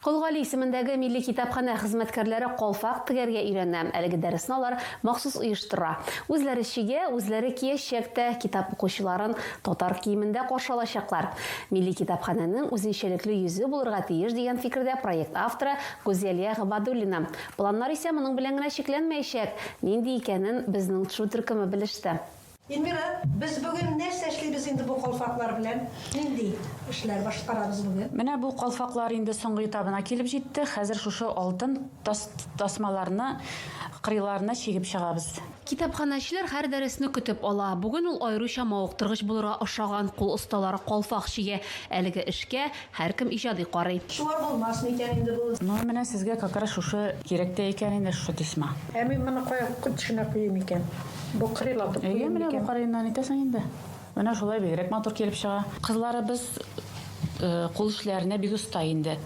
Кол Гали исемендәге милли китапханә хезмәткәрләре калфак тегәргә өйрәнә. Әлеге дәресне алар махсус оештыра. Үзләре чигә, үзләре киячәк тә, китап укучыларын татар киемендә каршы алачаклар. Милли китапханәнең үзенчәлекле йөзе булырга тиеш, дигән фикердә проект авторы Гүзәлия Габадуллина. Планнар исә моның белән генә чикләнмәячәк. Нинди икәнен безнең тшу төркеме белеште. Эльмира, без бүген нәрсә эшлибез инде бу калфаклар белән? Нинди эшләр башкарабыз бүген? Менә бу калфаклар инде соңгы этабына килеп җитте. Хәзер шушы алтын тасмаларны кырыйларына чигеп чыгабыз. Китапханәчеләр һәр дәресне көтеп ала. Бүген ул аеруча мавыктыргыч булырга охшаган, кул осталары калфак чигә. Әлеге эшкә Һәркем иҗади карый. Шулай булмас микән инде бу? Ну менә сезгә какрас шушы кирәк тә икән инде шушы тесьма. Ә мин моны кая төшенә куйыйм икән? Букрыйлатып куйыйм микән? Әйе, менә букрыеннан итәсең инде. Менә шулай бигрәк матур килеп чыга. Кызларыбыз кул эшләренә бик оста инде.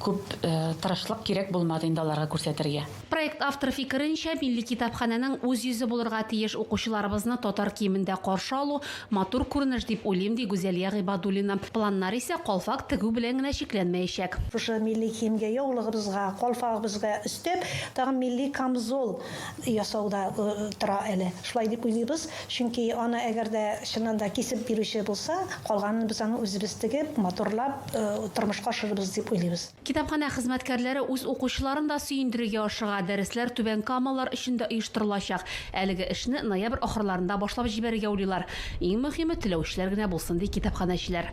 Күп тырышлык кирәк булмады инде аларга күрсәтергә. Проект авторы фикеренчә, милли китапханәнең үз йөзе булырга тиеш, укучыларыбызны татар киемендә каршы алу, матур күренеш дип уйлыйм, ди Гүзәлия Гыйбадуллина. Планнар исә калфак тегү белән генә чикләнмәячәк. Шушы милли киемгә, яулыгыбызга, калфагыбызга өстәп, тагын милли камзол ясау да тора әле. Шулай дип уйлыйбыз, чөнки аны әгәр дә чыннан да кисеп бирүче булса, калганын без аны үзебез тегеп, матурлап тормышка ашырырбыз дип уйлыйбыз. Китапханә хезмәткәрләре үз укучыларын да сөендерергә ашыга, дәресләр түбән камалылар өчен дә оештырылачак. Әлеге эшне ноябрь ахырларында башлап җибәрергә уйлыйлар. Иң мөһиме, теләүчеләр генә булсын, ди китапханәчеләр.